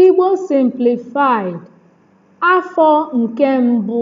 Igbo Simplified, Afọ nke mbụ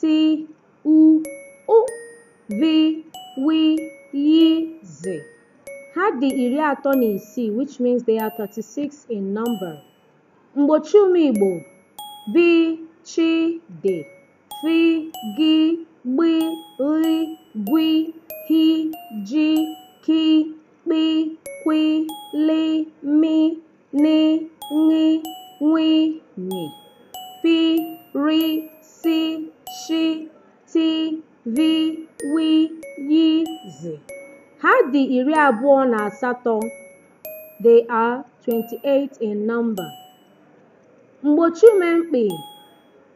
ti u ụ vi wi yi zi ha dị iri atọ na isii which means they are 36 in number mgbochiume igbo bi chi di fi gi gbi ghi gwi hi ji ki kpi kwi li mi ni ṅi nwi nyi pi ri si shi ti vi wi yi zi ha dị iri abụọ na asatọ they are 28 in number mgbochiume mkpị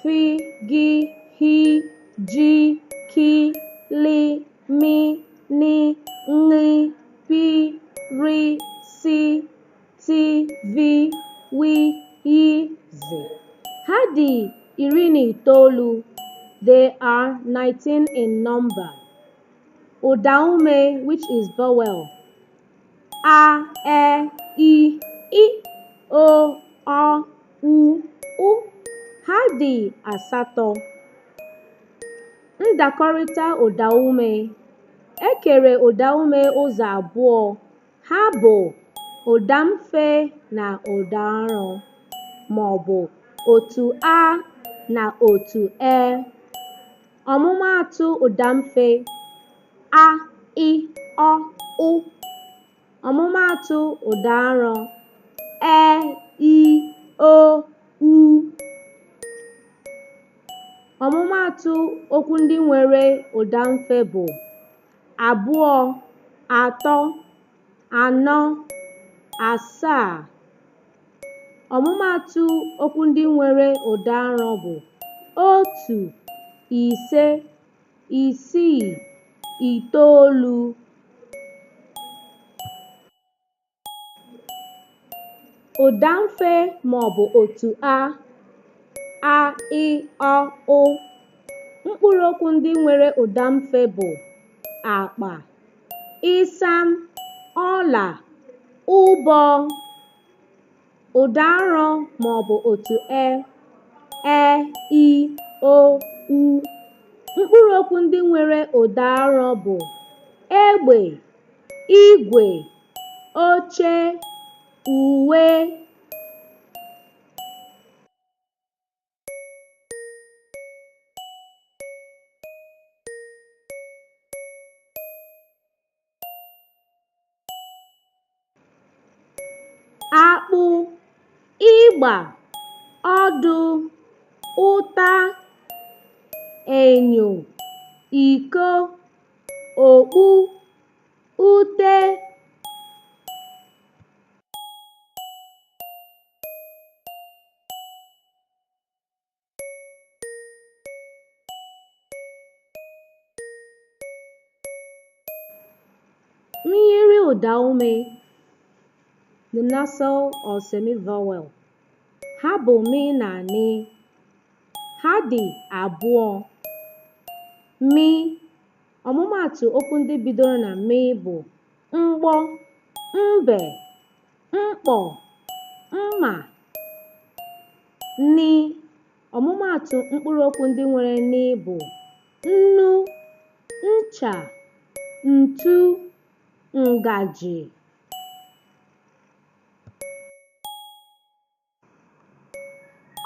fi gi hi ji ki li mi ni nri pi ri si ti vi wi yi zi ha dị iri na itoolu they are 19 in number ụdaume which is vowel a e i ị o ọ u ụ ha dị asatọ ndakọrịta ụdaume e kere ụdaume ụzọ abụọ ha bụ ụdamfe na ụdaarọ ma ọ bụ otu a na otu e ọmụmaatụ ụdamfe a ị ọ ụ ọmụmaatụ ụda arọ e i o u ọmụmaatụ okwu ndị nwere ụda mfe bụ abụọ atọ anọ asaa ọmụmaatụ okwu ndị nwere ụda arọ bụ otu ise isii itoolu ụdamfe maọbụ otu a a ị ọ ụ mkpụrụokwu ndị nwere ụdamfe bụ akpa ịsam ọla ụbọ Ụda arọ ma ọ bụ otu e, e, i, o, u. Mkpụrụ okwu ndị nwere ụda arọ bụ egbe, igwe, oche, uwe, akpụ ịgba ọdụ ụta enyo iko okpu ute Myiri ụdaume the nasal or semi-vowel ha bụ mị na nị ha dị abụọ mị ọmụmaatụ okwu ndị bidoro na mị bụ mgbọ mbe mkpọ mma nị ọmụmaatụ mkpụrụ okwu ndị nwere nị bụ nnu ncha ntu ngaji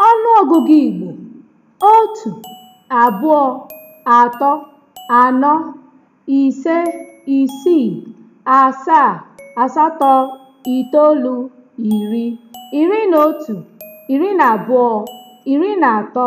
Ọnụọgụgụ Igbo otu, abụọ, atọ, anọ, ise, isii, asaa, asatọ, itoolu, iri, iri na otu, iri na abụọ, iri na atọ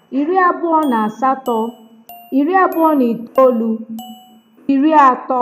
iri abụọ na asatọ iri abụọ na itoolu iri atọ